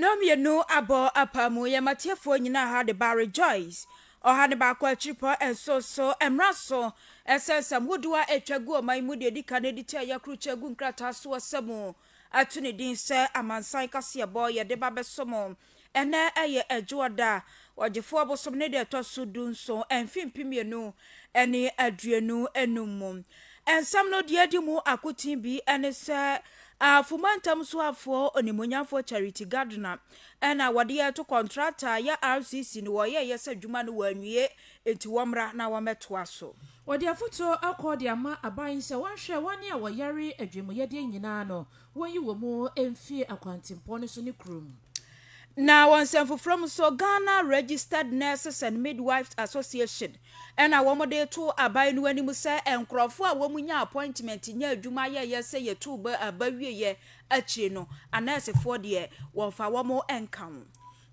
Nnɔn mmienu abɔ apaa mu yɛ matiefoɔ nyinaa ha de ba rejoice ɔha ne baako akyiripɔ nso so mmra so ɛsɛ nsɛm hodoɔ a atwa gu ɔman mu deɛ ɛdi kan ɛdi kyɛ yɛkoro kyɛ gu nkrataa so ɔsɛ mu ato ne din sɛ amansan kaseɛbɔ yɛde ba bɛsom. Ɛnnɛ ɛyɛ Adwoɔ da, Ɔgyefoɔ bosom ne da ɛtɔ so du nson mfe mpem mmienu ne aduonu nnum mu. Nsɛm no deɛ edi mu akoten bi ne sɛ Afo Mantam Soafoɔ Onimuonyamfoɔ Charity Gardner na wɔde reto kɔntrata a yɛ RCC no wɔyɛeɛ sɛ adwuma no wɔanwie nti wɔmmra na wɔmmɛtoa so. Wɔde afotuo akɔ de ama aban sɛ wɔnhwɛ wɔn a wɔyare adwemuyɛdeɛ nyinaa no, wɔnyi wɔn mu mfiri akwantempɔn no so ne kurom. Na wɔ nsɛm foforɔ mu nso, Ghana Registered Nurses and Midwives Association na wɔde reto aban no anim sɛ nkorɔfoɔ a wɔnyaa appointment nyɛɛ adwuma yɛeɛ sɛ yɛtoo ba wieeɛ akyire no, anɛɛsefoɔ deɛ wɔmfa wɔn nka ho.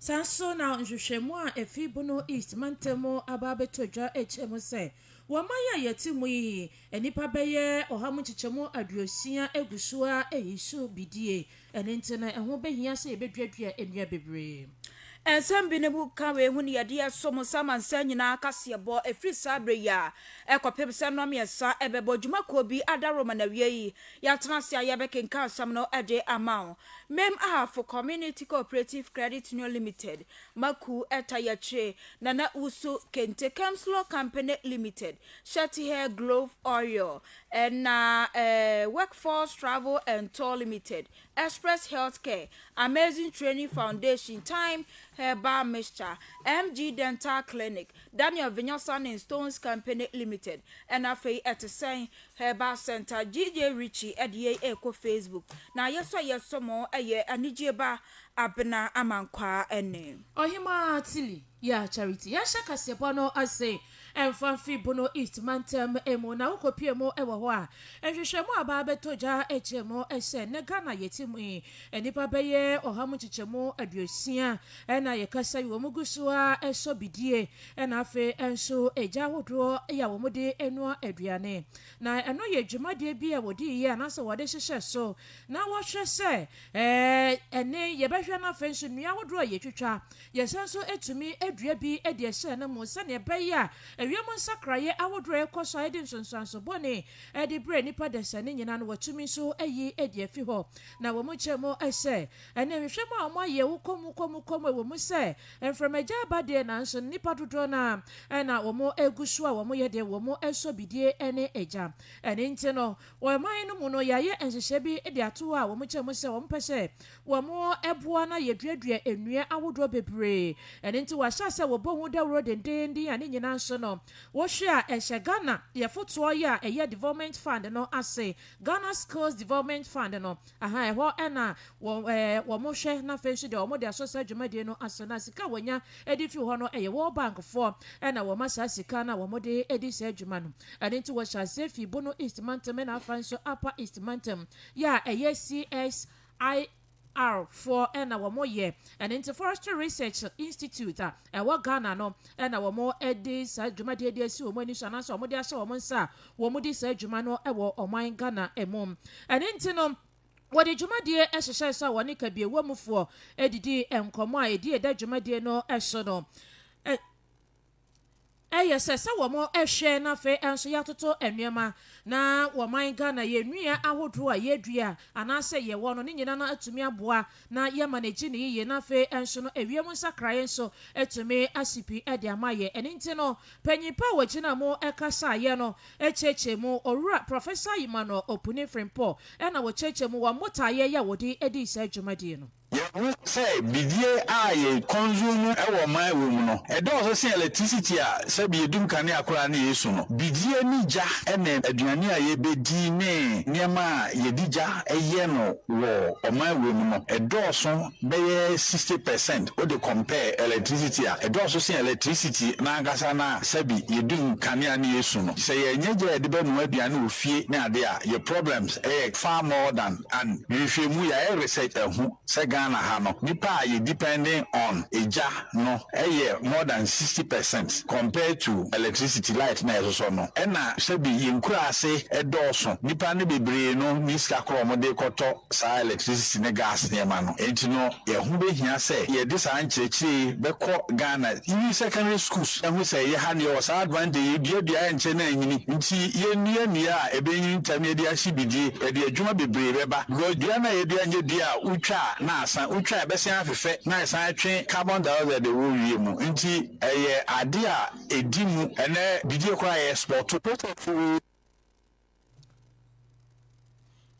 Saa ara nso na nhwehwɛmu a efi Bono East mantam mu aba abɛtɔ dwa kyerɛ mu sɛ, wɔ aman a yɛte mu yi, nnipa bɛyɛ ɔha mu nkyekyɛmu aduosia gu so ara reyi so bidie. Ɛno nti no, ɛho bɛhia sɛ yɛbɛduadua nnua bebree. Nsɛm bi no mu ka wei ho ne yɛde resom sɛ amansan nyinaa kaseɛbɔ ɛfiri saa berɛ yi a ɛkɔpem sɛ nnɔn mmiɛnsa ɛbɛbɔ dwumakuo bi adaworo ma no awie yi, yɛatena ase a yɛbɛkenkan asɛm no de ama wo. Mem Ahafo Community Cooperative Credit Union Limited, Maku, Etta Yɛkyere, Nana Usu, Kente Kems Law Company Limited, Shettiher Glove Oil, na Workforce Travel and Tour Limited, Express Healthcare, Amazing Training Foundation, Time Herbal Mixture, MG Dental Clinic, Daniel Vinyasa ne Stones Company Limited, na afei ɛte sɛn? Herbal Center, JJ Ritchie ɛde yei rekɔ Facebook na yɛsɔ yɛsɔ mo ɛyɛ anigyeɛ ba Abena Amankwaa ɛne. Ɔhemaa Tilly Yah Charity yɛnhyɛ kaseɛbɔ no ase mfa mfiri Bono East mantam mu na wo kɔpue mu wɔ hɔ a nhwehwɛmu a aba abɛtɔ gya kyerɛ mu sɛ nnɛ Ghana a yɛte mu yi nnipa bɛyɛ ɔha mu nkyekyɛmu aduosia na yɛkasa yi wɔn gu so ara sɔ bidie Ɛna afei nso egya ahodoɔ yɛ a wɔde noa aduane. Na ɛno yɛ dwumadie bi a wɔde yɛ anaasɛ wɔde hyehyɛ so na wɔhwɛ sɛ ɛne yɛbɛhwɛ no afei nso nnua ahodoɔ a yɛtwitwa yɛsan nso tumi dua bi de ɛhyɛ no mu sɛdeɛ ɛbɛyɛ a ɛwiem nsakraeɛ ahodoɔ a ɛkɔ so a ɛde nsonsoanso bɔne ɛde brɛ nnipa dasani nyinaa no wɔatumi nso ayi de afi hɔ. Na wɔn kyɛ mu sɛ Ɛne nhwehwɛmu a wɔayɛ wo kɔm wo kɔm wo kɔm ɛwɔ mu sɛ mframagya aba deɛ nanso nnipa dodoɔ no ara na wɔgu so a wɔyɛ deɛ wɔsɔ bidie ne gya. Ɛne nti no wɔ man no mu no yɛayɛ nhyehyɛɛ bi de ato hɔ a wɔkyɛ mu sɛ wɔpɛ sɛ wɔboa na yɛduadua nnua ahodoɔ bebree. Ɛne nti wɔahyɛ sɛ wɔbɔ ho dawuro dendeenden a ne nyinaa nso no wohwɛ a ɛhyɛ Ghana yɛfotoɔ yɛ a ɛyɛ development fund no ase, Ghana Skills Development Fund no. Ahaa, ɛhɔ na wɔhwɛ na afei nso deɛ wɔde asɔ saa dwumadie no ase na sika a wɔnya de firi hɔ no yɛ World Bank foɔ na wɔma saa sika no a wɔde di saa dwuma no. Ɛno nti wɔhyɛ aseɛ firi Bono East mantam ɛna afei nso Upper East mantam yɛ a ɛyɛ CSIR foɔ na wɔyɛ. Ɛno nti Forestry Research Institute a. ɛwɔ Ghana no na wɔde saa dwumadie de asi wɔn ani so anaasɛ wɔde ahyɛ wɔn nsa a wɔdi saa dwuma no wɔ ɔman Ghana mu. Ɛno nti no, wɔde dwumadie hyehyɛɛ so a wɔne kabiewɔ mufoɔ didii nkɔmmɔ a ɛdi ɛda dwumadie no so no. Ɛyɛ sɛ sɛ wɔn hwɛ na afei nso yɛatoto nneɛma na wɔman Ghana yɛn nnua ahodoɔ a yɛdua anaasɛ yɛwɔ no ne nyina no atumi aboa na yɛma no agye no yiye na afei nso no ɛwiem nsakraeɛ nso atumi asi pi de ama yɛn ɛno nti no panyin pa a wɔgyina mu kasaeɛ no kyerɛkyerɛ mu Owura Professor Emmanuel Opuni Frimpong na wɔkyerɛkyerɛ mu wɔn botaeɛ yɛ a wɔde dii saa dwumadie no. Yɛahu sɛ bidie a yɛ consume wɔ ɔman wɔ mu no, ɛdɔɔso sen electricity a sɛbi yɛdum kanea koraa ne yɛsu no. Bidie ne gya ne aduane a yɛbɛdi ne nneɛma a yɛde gya yɛ no wɔ ɔman wɔ mu no, ɛdɔɔso bɛyɛ sixty percent wode compare electricity a ɛdɔɔso sen electricity no ankasa no a sɛbi yɛdum kanea ne yɛsu no. Sɛ yɛnyɛ gya a yɛde bɛnoa aduane wɔ fie ne adeɛ a, yɛ problems yɛ far more than. And nhwehwɛmu yayɛ research ahu sɛ Ghana ha no nipa a yɛ depending on egya no yɛ more than sixty percent compared to electricity, light na yɛsosɔ no ɛna sɛbi yɛ nkuraase dɔɔso nipa no bebree no nni sika korɔ a wɔn de kɔ tɔ saa electricity ne gas nneɛma no ɛnti no ɛho bɛhia sɛ yɛde saa nkyerɛkyerɛ yi bɛkɔ Ghana even secondary schools. Ɛho sɛ yɛha nea ɔwɔ saa advan de yi dua dua a ɛnkyɛ na anyini nti yɛnnua nnua a ɛbɛnyini ntɛm na yɛde ahye bidie, ɛde adwuma bebree bɛba because dua no a yɛdua nyɛ dua a wotwa a na asan, wotwa a ɛbɛsen afefɛ na ɛsan atwe carbon dioxide a ɛwɔ wie mu nti ɛyɛ adeɛ a ɛdi mu, ɛnnɛ bidie koraa yɛ export. Process wei.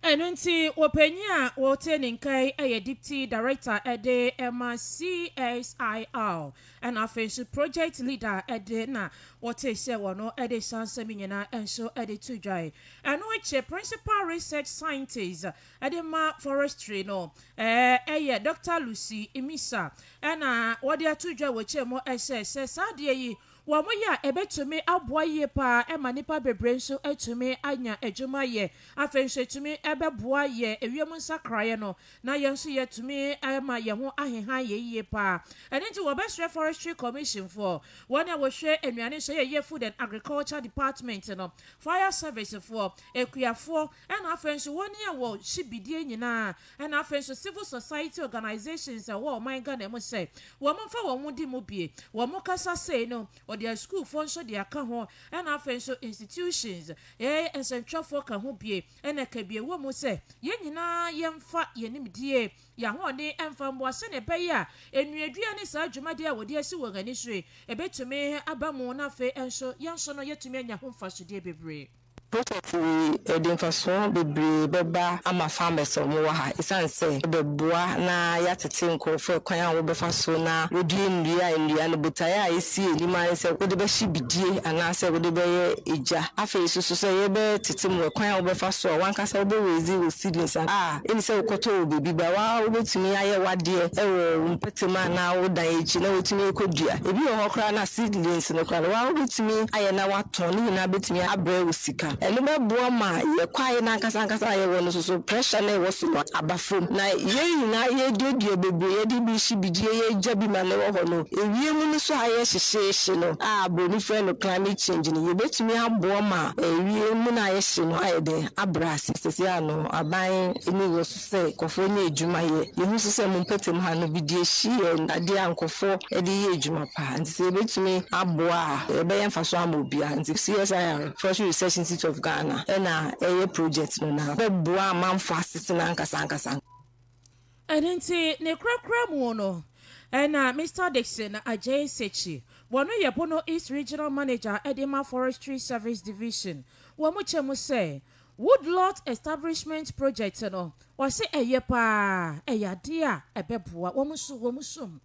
Ɛno nti, ɔpanyin a ɔte ne nka yi yɛ Deputy Director de ma CSIR, ɛna afei nso Project Leader de na wɔte sɛ wɔn de saa nsɛm nyinaa nso de to dwae. Ɛno akyi, Principal Research Scientist de ma Forestry no yɛ Doctor Lucy Misa, ɛna wɔde ato dwa wɔ kyɛm sɛ, sɛ saa adeɛ yi Wɔyɛ a, ɛbɛtumi aboa yie pa ara ma nnipa bebree nso atumi anya adwuma ayɛ. Afei nso, ɛtumi bɛboa yɛn ewiem nsakraeɛ no, na yɛn nso yɛatumi ama yɛn ho aheha yɛn yie pa ara. Ɛno nti, wɔbɛsrɛ Forestry Commission foɔ, wɔn a wɔhwɛ nnuane so yɛ, ɛyɛ Food and Agriculture Department no, Fire Service foɔ, akuafoɔ, Ɛna afei nso wɔn ni ɛwɔ hyibidie nyinaa ɛna afei nso civil society organisations ɛwɔ ɔman Ghana mu sɛ wɔn mfa wɔn ho di mu bie wɔn kasa sei no ɔde a sukuufoɔ nso de aka ho ɛna afei nso institutions ɛɛ nsɛntwerɛfoɔ ka ho bie ɛna ɛka bie wɔ mu sɛ yɛn nyinaa yɛn mfa yɛn nimdie yɛn ahoɔden mfa mmoa sɛdeɛ ɛbɛyɛ a nnuadua ne saa dwumadie a wɔde asi wɔn ani so yi ɛbɛtumi aba mu na afei nso yɛn nso no yɛtumi anya ho mfasodeɛ bebree. Projɛt yi de mfasoɔ bebree bɛba ama farmers a wɔn wɔ ha ɛsiane sɛ ɛbɛboa na yɛatete nkorɔfoɔ ɛkwan a wɔbɛfa so na wɔdua nnua, nnua no botaeɛ a ɛsi anim ara ne sɛ wode bɛhye bidie anaa sɛ wode bɛyɛ egya. Afei nso so sɛ yɛbɛtete mu ɛkwan a wobɛfa so a wankasa wobɛ raise wo seedlings a ɛnni sɛ wokɔtɔ wɔ baabi but wo ara wobɛtumi ayɛ w'adeɛ ɛwɔ wo mpɔtam anaa wo dan akyi na watumi akɔdua. Ɛbi wɔ hɔ koraa no a seedlings no koraa no wo ara wobɛtumi ayɛ na wa. tɔn no nyinaa betumi abrɛ wo sika. Ɛno bɛboa ma yɛn kwae no ankasa ankasa a yɛwɔ no so so pressure no a ɛwɔ so no aba fam, na yɛn nyinaa yɛreduadua bebree, yɛde bi rehye bi, deɛ yɛagya bi ma no wɔ hɔ no, ewiem no so ayɛ hyehyeehye no a Buroni frɛ no climate change no, yɛbɛtumi aboa ma ewiem no a ayɛ hye no ayɛ dɛn? Abrɛ ase. Seesei ano aban ani wɔ so. sɛ nkorɔfoɔ nya adwuma yɛ, yɛhu nso sɛ mo mpɔtam ha no bidie hye yɛ adeɛ a nkorɔfoɔ de yɛ adwuma paa nti sɛ yɛbɛtumi aboa a ɛbɛyɛ mfasoɔ ama obiara nti CSIR, Forestry Research Institute of Ghana, na ɛyɛ project no na bɛboa amanfoɔ asetena ankasa ankasa. Ɛno nti ne korakora mu no na Mister Dickson Adjei Sekyi, wɔn yɛ Bono East Regional Manager de ma Forestry Service Division, wɔn kyɛ mu sɛ Woodlot Establishment Project no, ɔse ɛyɛ paa, ɛyɛ adeɛ a ɛbɛboa wɔn nso wɔn som.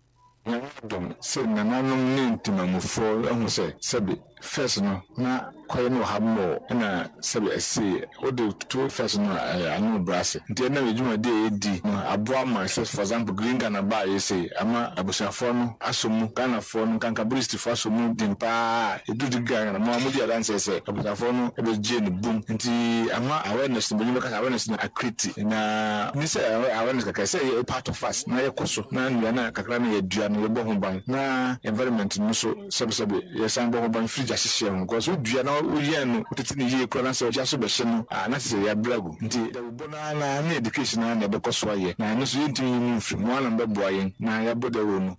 Nyame adom sɛ nananom ne ntemammufoɔ ahu sɛ sɛbe first no na kwaeɛ no wɔ ha more ɛna sɛbe ɛse wode to first no a ɛyɛ ano brɛ ase nti ɛnam yɛ dwumadi a yɛdi no aboa ma sɛ for example Green Ghana baeɛ sei ama abusuafoɔ no asɔ mu Ghanafoɔ no nkanka British fa so mu den paa a edu de gan no ma wodi adanse sɛ abusuafo no begye no boom. Enti ama awareness no, Banyinma ka sɛ awareness no akriti. Na ne sɛ awareness kakra ɛsɛ sɛ yɛyɛ part of us na yɛkɔ so na nnua no a kakra no yɛdua no yɛbɔ ho ban na environment no nso sɛbesɛbe yɛsan bɔ ho ban firi gya hyehyeɛ ho because wodua na woyɛn no wotete no yie koraa na sɛ gya so bɛhye no a na kyerɛ sɛ yɛabrɛ agu nti dawubɔ no ara no ara ne education no ara na yɛbɛkɔ so ayɛ na ɛno nso yɛntumi nyi mu mfiri. Mo ara na mobɛboa yɛn na yɛabɔ dawuro no.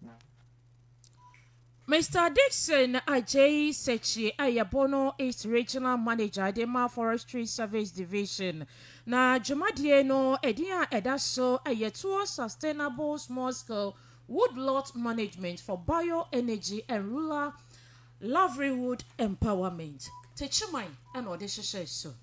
Mister Dickson Adjei Sekyie a yɛbɔ no is Regional Manager de ma Forestry Service Division, na dwumadie no edin a ɛda so yɛ Towards Sustainable Small Scale Woodlot Management for Bioenergy and Rural Livelihood Empowerment, Techiman na ɔde hyehyɛɛ so.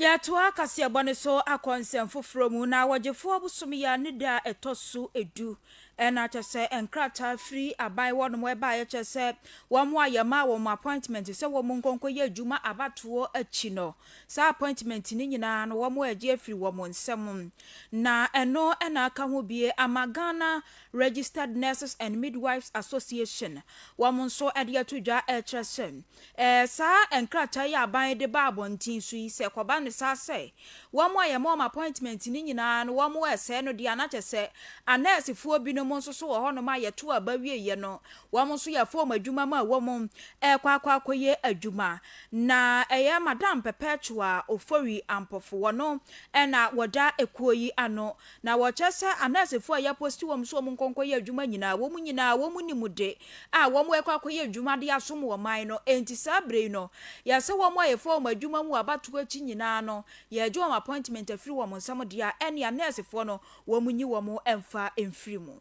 Yɛatoa kaseɛbɔ no so akɔ nsɛm foforɔ mu, na wɔgyefoɔ bosome yi ara ne da a ɛtɔ so du. Ɛna kyɛ sɛ nkrataa firi aban hɔ nom baeɛ kyerɛ sɛ wɔn a yɛmaa wɔn appointment sɛ wɔn nkɔ nkɔyɛ adwuma abatoɔ akyi no, saa appointment no nyinaa no wɔagye afiri wɔn nsam. Na ɛno na aka ho bie ama Ghana Registered Nurses and Midwives Association, wɔn nso de ato dwa rekyerɛ sɛ Ɛɛ, saa nkrataa yi a aban de ba abɔnten so yi, sɛ ɛkɔba no saa sɛ wɔn a yɛma wɔn appointment no nyinaa no wɔresɛe no deɛ a, na kyerɛ sɛ anɛɛsefoɔ binom nso so wɔ hɔnom a yɛtoo aba wieeɛ no, wɔn nso yɛfa wɔn adwuma ma wɔn rekɔ akɔ akɔyɛ adwuma. Na ɛyɛ Madam Perpetua Ofori Ampofo, wɔn na wɔda ekuo yi ano Na wɔkyɛ sɛ anɛsefo a yɛaposti wɔn sɛ wɔnkɔ nkɔyɛ adwuma nyinaa, wɔn nyinaa wɔn nim de a wɔrekɔ akɔyɛ adwuma de asom ɔman no. Enti saa bere yi no, yɛ sɛ wɔn a yɛfaa wɔn adwuma mu abatow akyi nyinaa no, yɛregye wɔn appointment afiri wɔn nsam de a, ɛnne anɛsefo no wɔnyi wɔn mfa mfiri mu.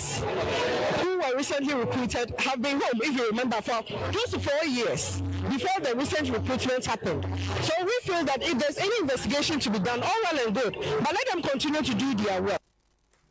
Students who were recently recruited have been home if you remember for close to four years before the recent recruitment happened so we feel that if there's any investigation to be done all well and good but let them continue to do their work.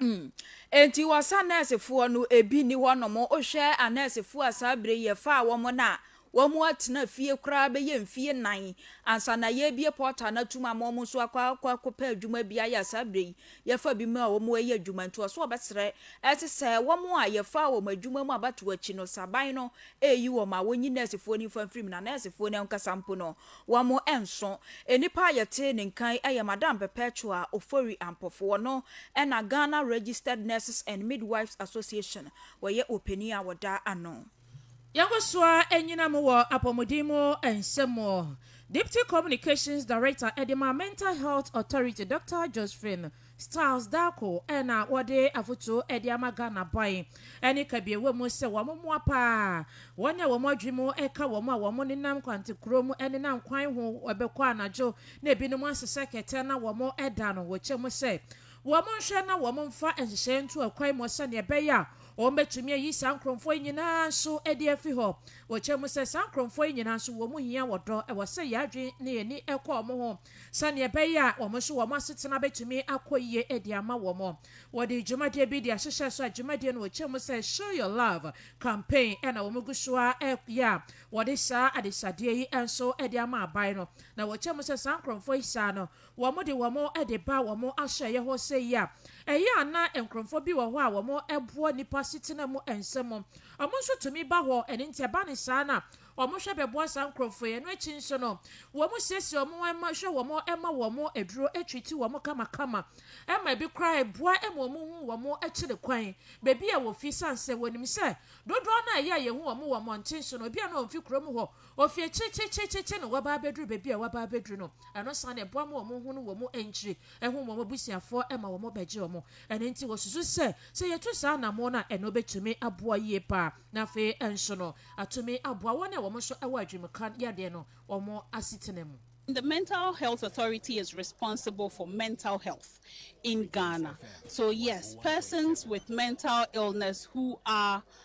Hmm. Enti wɔsa nɛɛsefoɔ no ebi ni hɔ nom wohwɛ anɛɛsefoɔ a saa bere yɛfaa wɔn no a Wɔatena fie koraa bɛyɛ mfeɛ nnan ansa na yɛrebue portal no atom ama wɔn nso akɔ akɔ akɔpɛ adwuma bi ayɛ. Saa berɛ yi, yɛfa bi mu a wɔreyɛ adwuma nti, wɔso wɔbɛsrɛ ɛte sɛ wɔn a yɛfaa wɔn adwuma mu abatoɔ akyi no, sɛ aban no reyi wɔn a, wɔnyi nɛɛsefoɔ no mfa mfiri mu. Na nɛɛsefoɔ no ankasa mpo no, wɔnso nnipa a yɛtee ne nka yi yɛ Madam Perpetua Ofori Ampofo. Ɔno na Ghana Registered Nurses and Midwives Association, ɔyɛ ɔpanin a ɔda ano. Yɛkɔ so ara anyina mu wɔ apɔmuden mu nsɛm mu. Deputy Communications Director de ma Mental Health Authority, Dɔkta Josephine Styles Darko na wɔde afotuo de ama Ghana ban ne kabiawa mu sɛ wɔmmoa pa ara wɔn a wɔn adwene mu ka wɔn a wɔnenam kwantekorɔ mu nenam kwan ho bɛkɔ anadwo na ebinom asesɛ kɛtɛ na wɔda no wɔ kyɛ mu sɛ wɔnhwɛ na wɔmfa nhyehyɛeɛ nto akwan mu sɛdeɛ ɛbɛyɛ a Wɔbɛtumi ayi saa nkorɔfoɔ yi nyinaa nso adi afi hɔ. Wɔkyerɛ mu sɛ saa nkorɔfoɔ yi nyinaa nso wɔn mu hia wɔ dɔ, ɛwɔ sɛ yɛn adwene ne yɛn ani kɔ wɔn ho sɛdeɛ ɛbɛyɛ a wɔn nso wɔn asetena bɛtumi akɔ yie de ama wɔn. Wɔde dwumadie bi de ahyehyɛ so a dwumadie no wɔkyerɛ mu sɛ Show Your Love Campaign na wɔn gu so ara yɛ a wɔde saa adesadeɛ yi nso de ama aban no na wɔkyerɛ mu sɛ saa nkorɔfoɔ yi saa no wɔde wɔn de ba wɔn ahyɛeɛ hɔ sɛ yi a, ɛyɛ a na nkurɔfoɔ bi wɔ hɔ a wɔboa nnipa asetena mu nsɛm. Wɔn nso tumi ba hɔ, ɛno nti ɛba no saa no a, wɔhwɛ bɛboa saa nkurɔfoɔ yi. Ɛno akyi nso no, wɔsiesie wɔn, wɔhwɛ wɔn, wɔma wɔn aduro, treati wɔn kamakama, ɛma ebi koraa ɛboa ma wɔhu wɔn akyiri kwan, baabi a wɔfi, ɛsiane sɛ wɔnim sɛ dodoɔ no a ɛyɛ a yɛhu wɔn wɔ mmɔnten so no, ebia na wɔmfi kurom hɔ, Ofi akyirikyirikyirikyiri na wɔaba abɛduru baabi a wɔaba abɛduru no, ɛno nso ara na ɛboa ma wɔn ho ne wɔn nkyiri, ɛho wɔn abusuafoɔ ma wɔbɛgye wɔn. Ɛno nti wɔsusu sɛ, sɛ yɛtu saa anammɔn no a, ɛno bɛtumi aboa yie pa ara, na afei nso no, atumi aboa wɔn a wɔn nso wɔ adwenemka yadeɛ no wɔn asetena mu. The Mental Health Authority is responsible for mental health in Ghana, so yes, persons with mental illness who are.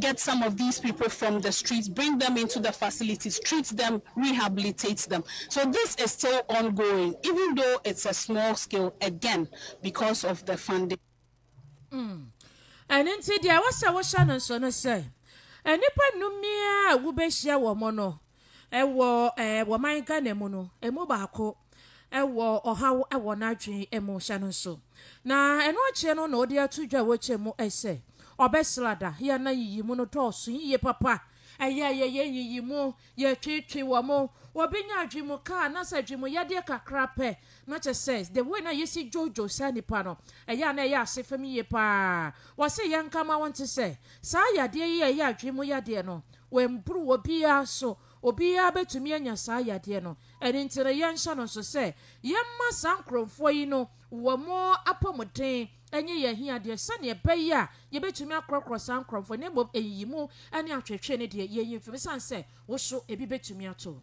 get some of these people from the streets bring them into the facilities treat them rehabilitate them so this is still ongoing even though it's a small scale again because of the funding. ɛno nti deɛ ɛwɔ sɛ wohyɛ no nso no sɛ nnipa nnum ni a wobɛhyia wɔn no Wɔ wɔ man Ghana mu no, ɛmu baako wɔ ɔhaw wɔ n'adwene mu, hyɛ no nso. Na ɛno akyerɛ no na ɔde ato dwa wɔ kyɛ mu sɛ ɔbɛsra da. Yɛn nna yiyi mu no dɔɔso yiye papa. Ɛyɛ a yɛyɛ nyiyi mu, yɛtwetwe wɔ mu. Obi nya adwene mu ka anaasɛ adwene mu yadeɛ kakra pɛ, na kyɛ sɛ the way na yɛsi dwodwo saa nipa no, ɛyɛ a na ɛyɛ ase fam yiye paa. Wɔse yɛnka ma wonte sɛ saa yadeɛ yi a ɛyɛ adwene mu yadeɛ no, Wɔampuru wɔ biara so. Obiara bɛtumi anya saa yadeɛ no. Ɛno nti no yɛnhyɛ no nso sɛ yɛmma saa nkorɔmfoɔ yi no wɔn apɔmuden nye yɛn ahiadeɛ sɛdeɛ ɛbɛyɛ a yɛbɛtumi akorɔkorɔ saa nkorɔmfoɔ yi na mmom nyiyimu ne atwetwe no deɛ yɛnyi mfim ɛsiane sɛ wo so ebi bɛtumi ato wo.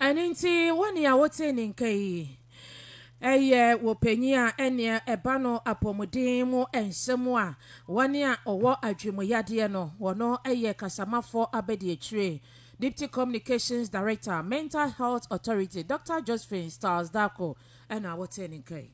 Ɛno nti, wo nea wotee ne nka yi, ɛyɛ wo panyin a ɛnneɛ ɛba no apɔmuden mu nsɛm a wɔn a ɔwɔ adwemuyadeɛ no, wɔno yɛ kasamafoɔ abadiakyire, Deputy Communications Director, Mental Health Authority, Doctor Josephine Stiles Darkoh ɛna wotee ne nka yi.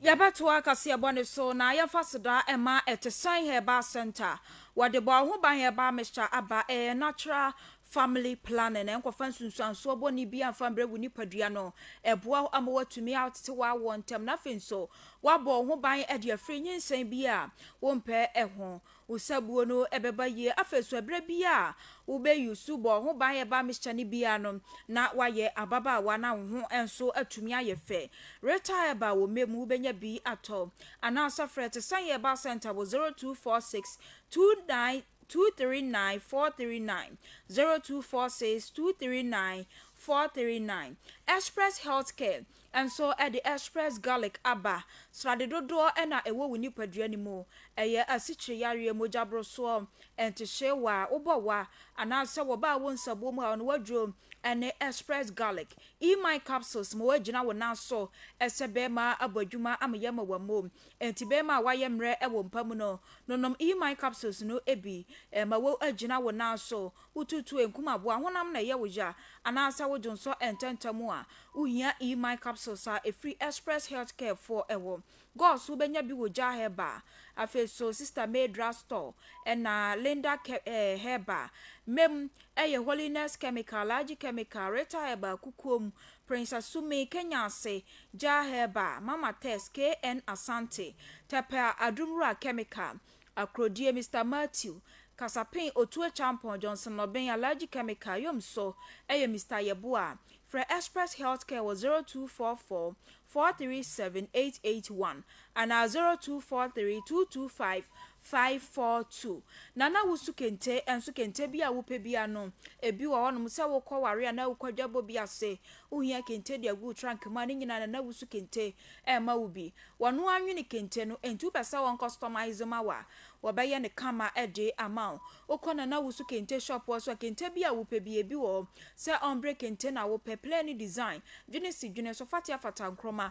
Yɛbɛtoa kaseɛbɔ no so na yɛmfa seda mma Ɛtesɛn Herbal Centre, wɔde bɔ wo ho ban herbal mixture aba, ɛyɛ natural Family planning, Ɛnkɔfa nsunsuansoɔ bɔne biara mfa mbrɛ wo nipadua no. Ɛboa wo ama woatumi atete w'awoɔ ntɛm na afei nso woabɔ wo ho ban de afiri nyinsɛn bi a wompɛ ho. Wo sabuo no bɛba yie. Afei nso ɛberɛ biara a wobɛ use bɔ wo ho ban herbal mixture no biara no, na woayɛ ababaawa na wo ho nso atumi ayɛ fɛ. Rita Herbal wɔ Memo, wobɛnya bi atɔ. Anaa sɛ frɛ Tesan Herbal Centre wɔ 0246 29 two three nine four three nine zero two four six two three nine four three nine Express Health Care nso de Express Garlic aba. Srade dodoɔ na ɛwɔ wo nipadua no mu. Ɛyɛ asikyire yareɛ, mogyaborosoɔ, ntehyeewa, wobɔ wa, anaasɛ wɔbaa wo nsabuo mu a ɔno waduro ne Express Garlic. E-Mind Capsules ma wɔagyina wo nan so sɛ bɛrima abɔ adwuma ama yɛn ma wɔamu. Enti bɛmma a wɔayɛ mmerɛ wɔ mpa mu no, nonom E-mine capsules no bi. Ɛma wo agyina wo nan so. Wo tuutuo nkum aboa honam na ɛyɛ wo ya, anaasɛ wo dwonsɔ ntɛntɛm a, wohia E-mine capsules a ɛfiri Express Health Care foɔ hɔ. Gɔs wo bɛnya bi wɔ Jah Herbal, afei so Sister May Drug Store, ɛna Linda Ke eh Herbal. Mem, ɛyɛ Holiness Chemical, Large Chemical, Rita Herbal, Kukuom, Prince Asumee, Kenya Ase, Jah Herba, Mama Tess, KN Asante, Tepper, Adumura Chemical, Akrodie, Mister Matthew, Kasapen, Otu Acheampong, Johnson Nɔben, Alhaji Chemical, Yom So ɛyɛ Mister Yeboah. Frɛ Express Healthcare wɔ zero two four four, four three seven, eight eight one Anaa zero two four three two two five five four two na na wo su kente nso kente bi a wo pɛ bia no ebi wɔ hɔ nom sɛ wo kɔ ware anaa wo kɔ adwabɔ bi ase wo hia kente de agu trunk mu a ne nyinaa na na wo su kente ɛma wo bi wɔno anwene kente no enti wo pɛ sɛ wɔn customize ma wa wɔbɛ yɛ ne kama ɛde ama wo wo kɔ na na wo su kente shop wɔ so a kente bi a wo pɛ bi ebi wɔ hɔ sɛ ɔmbre kente na wo pɛ plain design dwene si dwene so fatia fata nkroma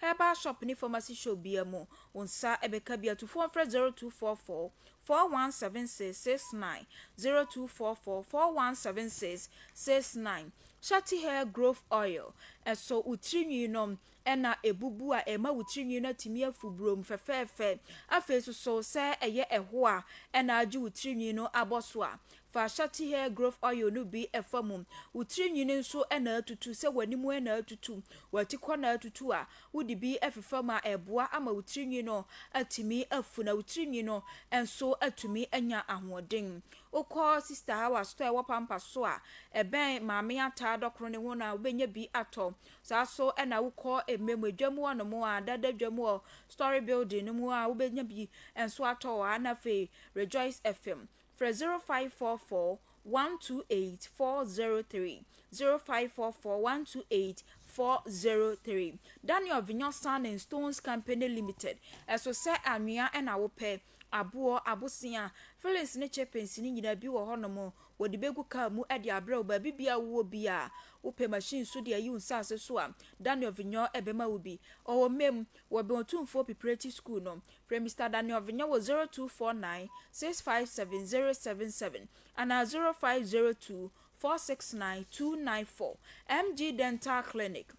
Herbal shop ne pharmacy shop biara mu wo nsa bɛka bi a, tu fon frɛ 0244 4176 69, 0244 4176 69. Shakti Hair Growth Oil, Ɛsɔ wo tiri nwi no na ɛbubu a, ɛma wo tiri nwi no atumi afu burom fɛfɛɛfɛ. Afei nso so, sɛ ɛyɛ ɛho a na agye wo tiri nwi no abɔ so a, Fa Shakti Hair Growth Oil no bi fa mu. Wo tiri nwi no nso na atutu, sɛ w'anim na atutu, w'atikɔ na atutu a, wode bi fefam a, ɛboa ama wo tiri nwi no atumi afu na wo tiri nwi no nso atumi anya ahoɔden. Wokɔ Sista Hawa store a ɛwɔ Pampas so a ɛbɛn Maame Ataa Dɔkono no ho no a, wobɛnya bi atɔ. Saa nso na wokɔ Emmem mu, Edwa mu hɔnom a, Dada Edwa mu wɔ Story Building no mu a, wobɛnya bi nso atɔ wɔ ha na afei Rejoice FM Frɛ 0544 128 403, 0544 128 403. Daniel Vinyo Sand and Stones Company Limited, Ɛso sɛ anwea na wopɛ, aboɔ, abosea, fillings ne chippings no nyinaa bi wɔ hɔnom, wɔde bɛgu car mu de abrɛ wo baabi biara wowɔ biara. Wopɛ machine nso de ayi wo nsase so a, Daniel Vinyo bɛma wo bi. Ɔwɔ Mem, wɔ bɛn Otumfoɔ Pipreti School no. Frɛ Mister Daniel Vinya wɔ 0249 657077 anaa 0502 469 294. MG Dental Clinic,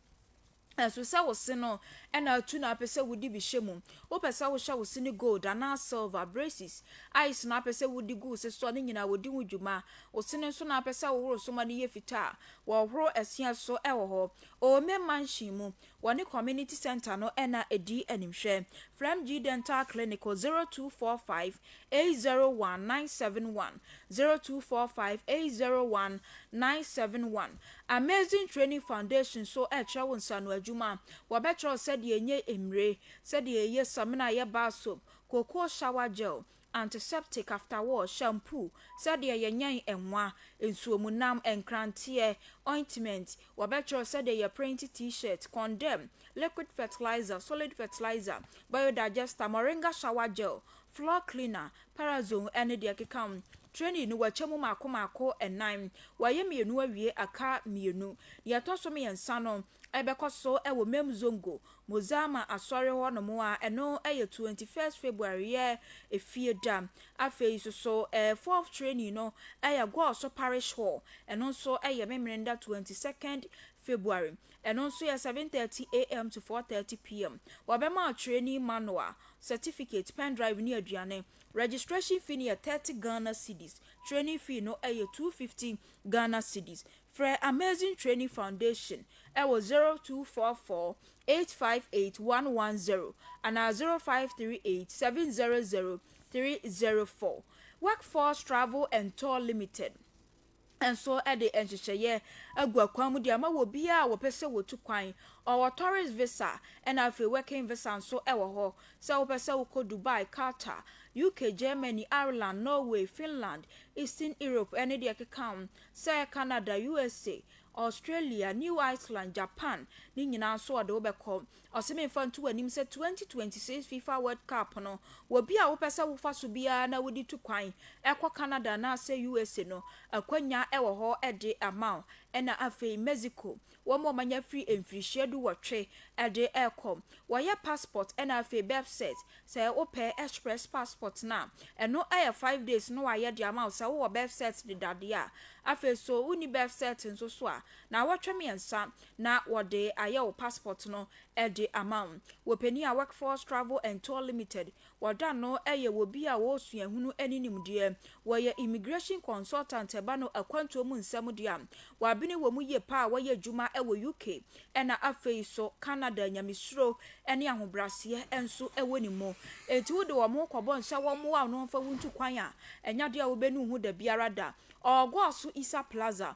Ɛso sɛ wo se no na atu na apɛ sɛ wode bi hyɛ mu? Wopɛ sɛ wohyɛ wo se no gold anaa silver, braces, ice na apɛ sɛ wode gu wo se so a, ne nyinaa wɔdi ho dwuma. Wo se no nso na apɛ sɛ wohoro so ma no yɛ fitaa a, wɔhoro asia so wɔ hɔ. Owome Mansion mu, Wɔ ne community centre no na ɛdii animhwɛ. Fremgyee Dental Clinic wɔ 0245 801 971, 0245 801 971. Amazing Training Foundation nso rekyerɛ wo nsano adwuma. Wɔbɛkyerɛ wo sɛdeɛ ɛnyɛ mmire, sɛdeɛ yɛyɛ samina, yɛ bar soap, cocoa shower gel, antiseptic, afterwash, shampoo, sɛdeɛ yɛnyɛn nwa, nsuomunam, nkranteɛ, ointment, wɔbɛkyerɛ sɛdeɛ yɛprenti T-shirt, condem, liquid fertilizer, solid fertilizer, biodigester, moringa shower gel, floor cleaner, parazone ɛne deɛ ɛkeka ho. Training no wɔkyɛ mu mmaako mmaako nnan, wɔayɛ mmienu awie aka mmienu. Deɛ ɛtɔ so mmiɛnsa no, ɛbɛkɔ so wɔ Mem Zongo, Mozama Asɔre hɔ nom a ɛno yɛ 21st February yɛ efie da. Afei nso so ɛɛ fourth training no yɛ Gɔɔso Parish hɔ, ɛno nso yɛ Memeneda 22nd February, ɛno nso yɛ 7:30am to 4:30pm. Wɔbɛma wo training manual, certificate, pen drive ne aduane. Registration fee no yɛ 30 Ghana cedis, training fee no yɛ 250 Ghana cedis. Frɛ Amazing Training Foundation wɔ 0244 858 110 anaa 0538 700 304. Workforce Travel and Tour Limited nso de nhyehyɛeɛ agu akwan mu de ama wɔ biara a wɔpɛ sɛ wɔtu kwan. Ɔwɔ Tourist Visa ɛna afei Working Visa nso wɔ hɔ. Sɛ wopɛ sɛ wokɔ Dubai, Qatar, UK, Germany, Ireland, Norway, Finland, Eastern Europe ne deɛ ɛkeka ho Sɛ Canada, USA, Australia, New Iceland, Japan no nyinaa nso ɔde wo bɛkɔ. Ɔse me nfa nto w'anim sɛ 2026 Fifa World Cup no wɔ bi a wopɛ sɛ wofa so biara na wode tu kwan kɔ Canada anaasɛ USA no, akwanya wɔ hɔ de ama wo. Ɛna afei Mexico, Wɔn a wɔanya firi mfirihyia du wɔtwe de rekɔ. Wɔyɛ passport na afei birth cert. Sɛ wo pɛ express passport no a, ɛno yɛ five days na wɔayɛ de ama wo sɛ wowɔ birth cert deda deɛ a. Afei so wo nni birth cert nso so a, naawɔtwe mmiɛnsa na wɔde ayɛ wo passport no de ama wo. Wɔ panin a Workforce Travel and Tour Limited Wɔda no yɛ wɔ bi a wɔwɔ suahunu ne nimdeɛ, wɔyɛ immigration consultant ɛba no akwantuo mu nsɛm deɛ a, wɔabene wɔ mu yie paa a wɔyɛ adwuma wɔ UK ɛna afei nso Canada nyamesuro ne ahobraseɛ nso wɔ ne mu enti wode wɔn kɔbɔ nsa wɔmmoa wo na wɔmfa wo ntu kwan a ɛnyɛ adeɛ a wobɛnu ho dabiara da Ɔɔgoaso Isa Plaza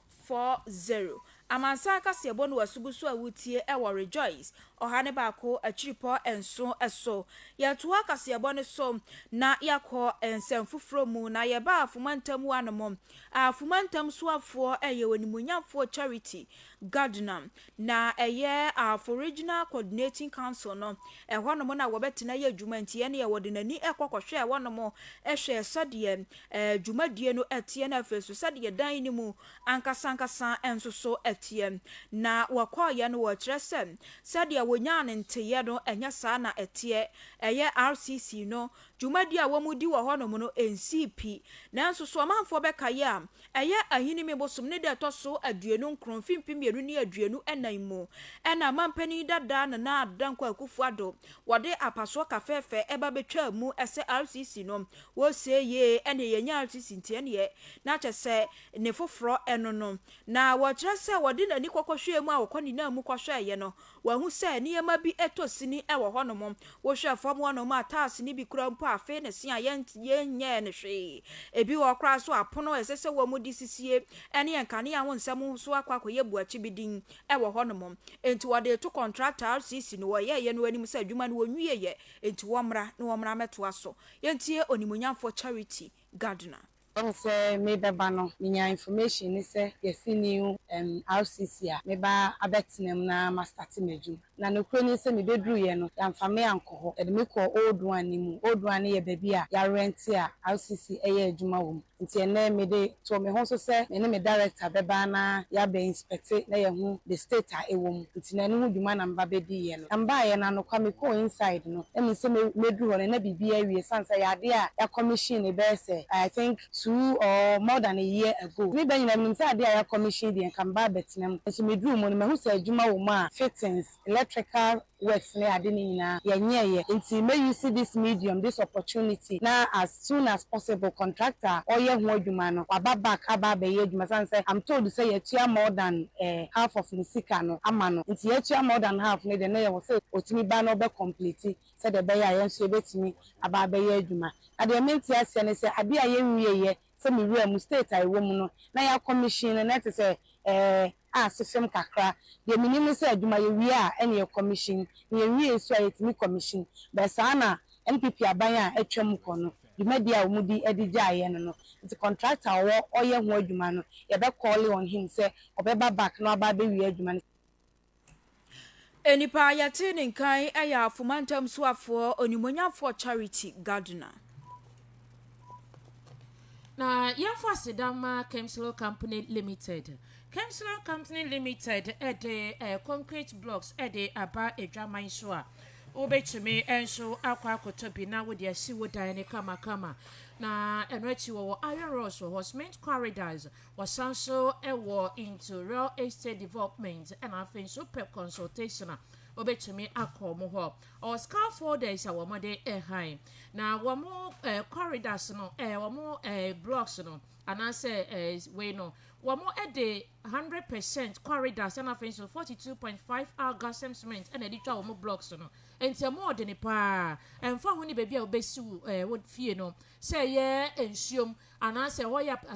four zero Amansan kaseɛbɔ no w'asobu so a wotie wɔ Rejoice ɔha ne baako akyiripɔ nson so. Yɛtoaa kaseɛbɔ no so na yɛakɔ nsɛm foforɔ mu na yɛbaa Afomantam hɔ anom a Afomantam soafoɔ yɛ Onimuonyamfoɔ Charity Gardner Na ɛyɛ Aboriginal Coordinating Council no, ɛhɔnom na wɔbɛtena ayɛ adwuma nti ɛneɛ wɔde n'ani kɔ kɔhwɛɛ hɔnom hwɛɛ sɛdeɛ dwumadie no teɛ na afei nso sɛdeɛ dan no mu ankasa ankasa nso so teɛ. Na wɔkɔeɛ no wɔkyerɛ sɛ sɛdeɛ wɔnyaa no nteeɛ no ɛnyɛ saa na ɛteɛ, ɛyɛ RCC no dwumadi a wɔdi wɔ hɔnom no nsii pi. Nanso, so ɔmanfoɔ bɛka yɛ a ɛyɛ Ahinime bosom ne da a ɛtɔ so aduonu nkron mfe mpem mmienu ne aduonu nnan mu na Amanpanin dada Nana Addo Dankwa Akufo Addo wɔde apasoɔ kafɛɛfɛ ba bɛtwaa mu sɛ RCC no wɔresie yie ɛneɛ yɛnya RCC nti ɛneɛ na kyɛ sɛ ne foforɔ ɛno no na wɔkyerɛ sɛ wɔde n'ani kɔkɔhwɛɛ mu a wɔkɔ ne nan mu kɔhwɛeɛ no Wahu sɛ nneɛma bi tɔ sini wɔ hɔnom. Wohwɛ fam hɔnom a, tiles no bi kura mpo a, afei na ɛsen a yɛnyɛɛ no hwee. Ebi wɔ hɔ koraa nso a, apono a ɛsɛ sɛ wɔde sisie ne nkanea ho nsɛm nso akɔ akɔyɛ buakyibidin wɔ hɔnom. Enti wɔde reto kɔntrakta RCC no, wɔyɛeɛ no anim sɛ adwuma no wɔnwieeɛ, enti wɔmmra na wɔmmra mmɛtoa so. Yɛntie Onimuonyamfoɔ Charity Gardner. Ɛwom sɛ merebɛba no menya information ne sɛ yɛasi new RCC a mɛba abɛtena mu na ma starte m'adwuma. Na nokorɛ nie sɛ mebɛduruiɛ no yɛamfa me ankɔ hɔ, yɛde me kɔɔ old one no mu. Old one no yɛ baabi a yɛarente a RCC yɛ adwuma wɔ mu. Nti ɛnnɛ mede too me ho so sɛ me ne me director bɛba na yɛabɛ ɛte na yɛahu the state a ɛwɔ mu nti na ɛno ho dwuma na meba bɛdiiɛ no na mebaeɛ no anokwa mekɔɔ inside no na menim sɛ mɛduru hɔ no na biribiara awie ɛsiane sɛ ɛyɛ adeɛ a yɛ commission bɛyɛ sɛ I think two or more than a year ago ne da nyinaa menim sɛ adeɛ a yɛ commission deɛ nka meba abɛtena mu nanso meduruu mu no mahu sɛ adwuma wɔ mu a fittings electrical works ne ade no nyinaa yɛnyɛɛ yɛ nti mɛ use this medium this opportunity na as soon as possible contractor a ɔyɛ ho adwuma no waba back aba abɛyɛ adwuma ɛsiane sɛ am told sɛ yɛatua more than eh half of ne sika no ama no nti yɛatua more than half no deɛ na yɛwɔ sɛ ɔtumi ba na ɔbɛ complete sɛdeɛ ɛbɛyɛ a yɛn nso yɛbɛtumi aba abɛyɛ adwuma na deɛ mente aseɛ ne sɛ adeɛ a yɛnwie yɛ sɛ me wura mu, state a yɛwɔ mu no, na yɛ akɔmihyin no, na ɛte sɛ, eh, a ase fem kakra. Deɛ menim ne sɛ adwuma yɛwie a ɛna yɛ kɔmihyin, na yɛnwie nso a yɛtumi kɔmihyin. But saa na NPP aban a atwa mu kɔ no, dwumadie a wɔn di de gyaa yɛ no no. Nti contractor a ɔwɔ ɔyɛ ho adwuma no, yɛbɛ call on him sɛ ɔbɛba back na waba abɛwie adwuma no. Nnipa a yɛtee ne nka yi yɛ Afoma Ntam Soafoɔ Onimuonyamfoɔ Charity Gardner. Na yɛmfa aseda ma Kemslow Company Limited. Kemslow Company Limited de eh, concrete blocks de aba adwaman so a wobɛtumi nso akɔ akɔtɔ bi na wode asi wo dan no kamakama. Na ɛno akyi wɔwɔ iron rods wɔ hɔ, cement corridors, Wɔsan nso wɔ into real estate development ɛna afei nso wopɛ consultation a wobɛtumi akɔ wɔn hɔ. Ɔwɔ scaffolders a wɔde ɛhan na wɔn eh, corridors no eh, wɔn eh, blocks no anaasɛ eh, wei no wɔn de hundred percent corridors ɛna afei nso forty two point five algasem cement ɛna ɛde twa wɔn blocks no nti ɛmo ɔde ne paa ɛnfa ho ne baabi a wobɛsi wo eh, wo fie no sɛ ɛyɛ nsuom anaasɛ ɛhɔ yɛ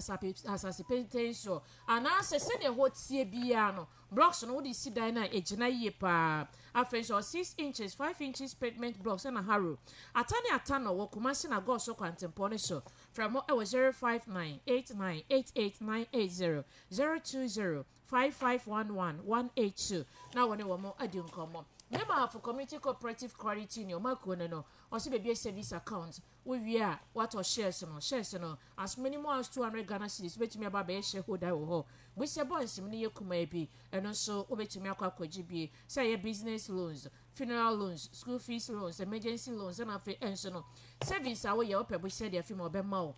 asase pintinn so, anaasɛ sɛnea ɛhɔ teɛ biara no, blocks no wode si dan no a, egyina yie paa. Afei nso, ɔwɔ six inches, five inches pavement blocks ɛna harrow. Ata ne ata no wɔ Kumasi na Goso kwantempɔn no so. Frɛ mo ɛwɔ zero five nine eight nine eight eight nine eight zero, zero two zero five five one one one eight two na wɔne wɔn adi nkɔmmɔ. Mema for Community Cooperative Credit Union, Makuo no no, ɔsɛ bebue savings account. Wowie a, woatɔ shares no. Shares no, asome no mu ounce two hundred Ghana cedis, wobɛtumi aba abɛyɛ shareholder wɔ hɔ. Bosea bonds mu no yɛ kumaa bi, ɛno nso wobɛtumi akɔ akɔgye bi. Sɛ ɛyɛ business loans, funeral loans, school fees loans, emergency loans, ɛna afei nso no, savings a woyɛ, wopɛ bosea de afi mu a, ɔbɛma wo.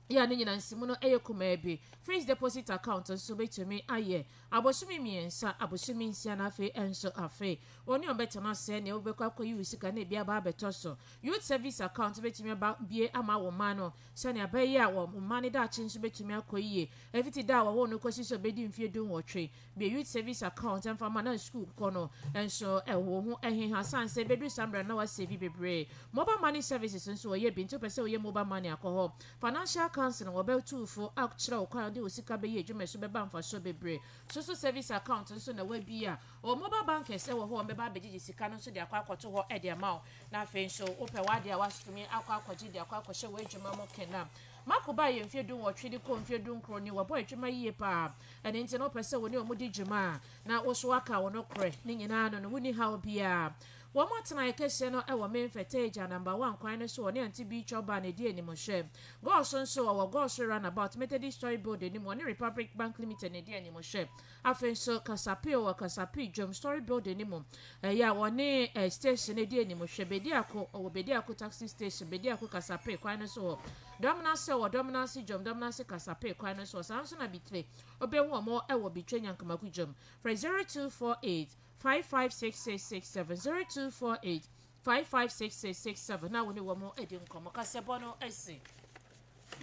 yi a ne nyinansi mu no yɛ kumaa bi. Fixed deposit account nso betumi ayɛ abosome mmiɛnsa, abosome nsia, na afei nso afe. Wɔn ne wɔn bɛtena ase nea wobɛkɔ akɔyi wo sika na ebi aba abɛtɔ so. Youth Service Account betumi aba bie ama wo mma no sɛnea ɛbɛyɛ a wɔn mma no daakye nso betumi akɔ yie, ɛfiti da a wɔwoo no kɔsi sɛ obedi mfeɛ du nwɔtwe. Deɛ youth service account mfa ma na school kɔ no nso ɛho ho ɛheha sane sɛ ɛbɛduru saa mmerɛ no na wasave bebree. Mobile money services nso wɔyɛ bi, nti wopɛ sɛ woyɛ mobile money a kɔ hɔ. Financial counselling, wɔbɛtu fo akyerɛ wo kwan a wode wo sika bɛyɛ adwuma a ɛso bɛba mfasoɔ bebree. Social service account nso na wabia o, mobile bankers ɛwɔ hɔ a wɔbɛba abɛgyegye sika no nso de akɔ akɔto hɔ de ama wo na afei nso wopɛ w'adeɛ a watumi akɔ akɔgye de akɔ akɔhyɛ w'adwuma mu kena. Marco baa yɛ mfeɛ dunwɔtwe de kɔɔ mfeɛ dunkron ni wabɔ adwuma yie paa ɛno nti na ɔpɛ sɛ wo ne ɔmo di dwuma a na wo so woaka wo nokorɛ ne nyinaa no no wonni haw biaa wɔn atenaeɛ kɛseɛ no ɛwɔ main fertager number one kwan no so ɔne auntie bee chow baa no ɛdi anim hwɛ gɔɔso nso ɔwɔ gɔɔso round about methodist story building no mu ɔne republic bank limited no ɛdi anim hwɛ Afei nso Kasape wɔ Kasape Dwom Story Building no mu, ɛyɛ a wɔne station no di anim. Hwɛ Bediako, ɔwɔ Bediako Taxi Station, Bediako Kasape kwan no so hɔ. Dɔmenase wɔ Dɔmenase Dwom, Dɔmenase Kasape kwan no so hɔ. Saa nso na Bitre, wobɛhu wɔn wɔ Bitre Nyankamako Dwom. Frɛ 0248 556667, 0248 556667 na wo ne wɔn adi nkɔmmɔ. Kasɛbɔ no asi.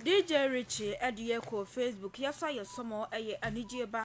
DJ Richie ɛde yɛ kɔ Facebook yɛsa yɛ sɔmɔ ɛyɛ anigyeɛ ba.